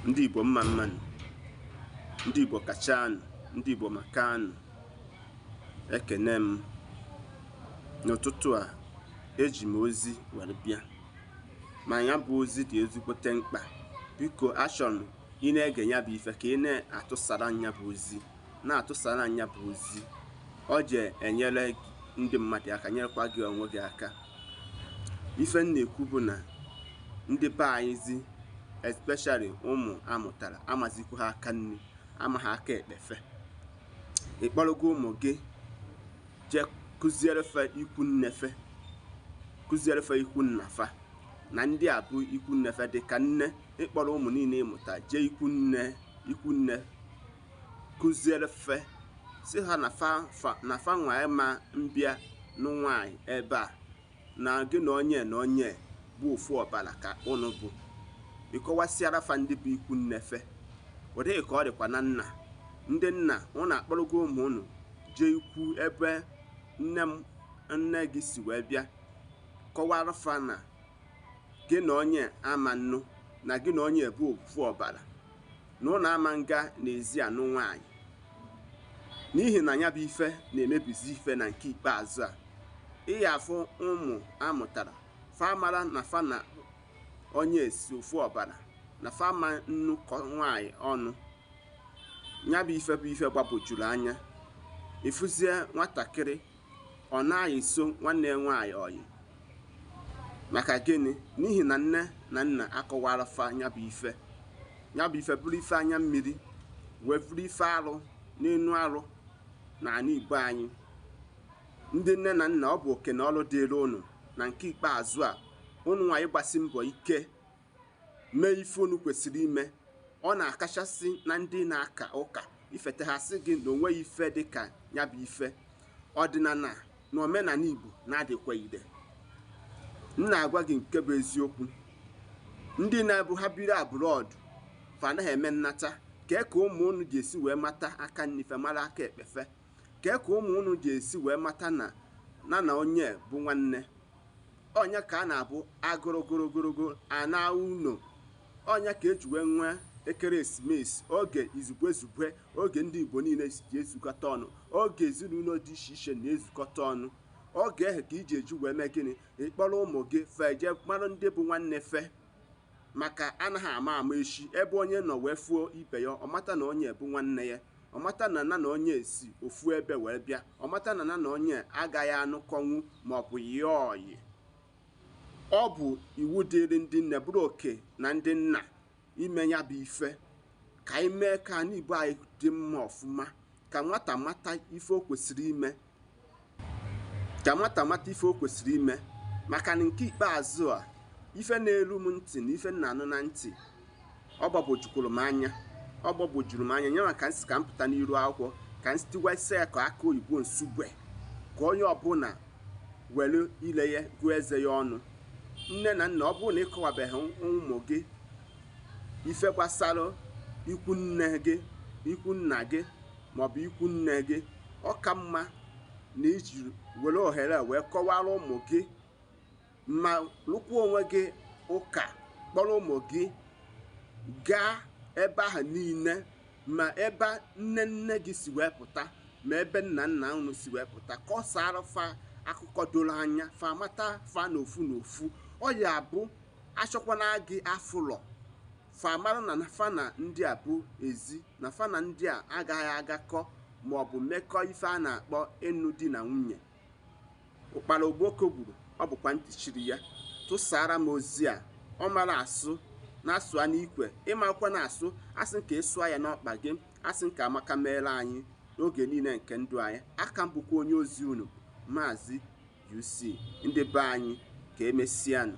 ndị Igbo mma mma nụ ndị Igbo kachanụ ndị Igbo makanụ ekene m n'ụtụtụ a eji m ozi were bịa ma nya bụ ozi dị ezigbote mkpa biko achọrọ m ị na-ege nya bụ ife ka ị na-atụsara nya bụ ozi na-atụsara nya bụ ozi ọ je enyere ndị mmadụ aka nyerekwa gị onwe gị aka ife m na-ekwu bụ na ndị be anyị zi especially ụmụ a mụtara amazikwuha aka nni amaha aka ekpe fe ị kpọrọgo ụmụ gị jee kụziere fe ikwu nne fe kụziere fe ikwu nna fa na ndị a bụ ikwu nne fe dị ka nne ị kpọrọ ụmụ niile ị mụtara jee ikwu nne ikwu nne kụziere fe sị ha na fa nwa ị ma mbịa nụ nwaanyị ebe a na gị na onye na onye bụ ofu ọbara ka ụnụ bụ ị kọwasịara fa ndị bụ ikwu nne fe ụdị a ka ọ dịkwa na nna ndị nna ụnụ akpọrọgo ụmụ ụnụ jee ikwu ebe nne m nne gị si wee bịa kọwara fa na gị na onye ama nnụ na gị na onye bụ ofu ọbara na ụnụ ama nga n'ezi a nụ nwaanyị n'ihi na nya bụ ife na-emebizi ife na nke ikpeazụ a ị ya afụ ụmụ a mụtara fa amara na fa na onye esi ofu ọbara na fa ama nnụkọ nwaanyị ọnụ nya bụ ife bụ ife gbagwojuru anya ị fụzie nwatakịrị Ọ na-ayịso nwanne ya nwaanyị ọyị. Maka gịnị? N'ihi na nne na nna akọwara fa nya bụ ife. Nya bụ ife bụrụ ife anya mmiri wee bụrụ ife arụ n'enu arụ na anị Igbo anyị. Ndị nne na nna ọ bụ oke na ọrụ dịrị ụnụ na nke ikpeazụ a ụnụ nwa ịgbasi mbọ ike mee ife unu kwesịrị ime ọ na-akachasị na ndị na-aka ụka ifete ha sị gị na o nweghị ife dị ka nya bụ ife ọdịnala na omenala Igbo na-adịkwa ire m na-agwa gị nke bụ eziokwu ndị na-ebu ha biri abroad fa anaghị eme nnata kee ka ụmụ unu ga-esi wee mata aka nni fe mara aka ekpe fe Kee ka ụmụ unu ga-esi wee mata na na na onye bụ nwanne? Ọ nya ka a na-abụ agụrụ gụrụgụrụgụ a naa ụnọ. Ọ nya ka e ji wee nwee ekeresimesi, oge izugbe zugbe, oge ndị Igbo niile ji ezukọta ọnụ, oge ezinụlọ dị iche iche na-ezukọta ọnụ. Oge ahụ ka ị je eji wee mee gịnị? Ị kpọrọ ụmụ gị fe jee mara ndị bụ nwanne fe maka anaghị ama ama echi ebe onye nọ wee fụọ ibe ya ọ mata na onye bụ nwanne ya Ọ mata na nya na onye si ofu ebe wee bịa. Ọ mata na nya na onye agaghị anụkọnwu maọbụ yịa ọyị. Ọ bụ iwu dịịrị ndị nne bụrụ oke na ndị nna ime ya bụ ife ka anyị mee ka ana Igbo anyị dị mma ọfụma, ka nwata mata ife o kwesịrị ime ka nwata mata ife o kwesịrị ime maka na nke ikpeazụ a ife na-eru m ntị na ife m na-anụ na ntị ọ gbagwojukwuru m anya ọ gbagwojuru m anya nya mee ka m sị ka m pụta n'iru akwụkwọ ka m si tiwasịa ya ka akụ oyibo Nsugbe ka onye ọbụla were ile ya gụọ eze ya ọnụ nne na nna ọ bụrụ na ị kọwabeghị ụmụ gị ife gbasara ikwu nne gị ikwu nna gị maọbụ ikwu nne gị ọ ka mma na iji were ohere wee kọwara ụmụ gị ma lụkwuo onwe gị ụka kpọrọ ụmụ gị gaa ebe ahụ niile ma ebe nne nne gị si wee pụta ma ebe nna nna unu si wee pụta kọsaara fa akụkọ doro anya fa mata fa n'ofu n'ofu ọ ya bụ achọkwana gị afụrọ fa mara na fa na ndị a bụ ezi na fa na ndị a agaghị agakọ ma ọ bụ mekọọ ife a na-akpọ ịnụ di na nwunye ụkpara okpoko gburu ọ bụkwa ntị chiri ya tụsaara m ozi a ọ mara asụ nya sụa n'ikwe ị makwana asụ asị m ka ị sụa ya n'ọkpa gị asị m ka amaka meere anyị n'oge niile nke ndụ anyị aka m bụkwa onye ozi unu maazị UC ndị be anyị ka emesianụ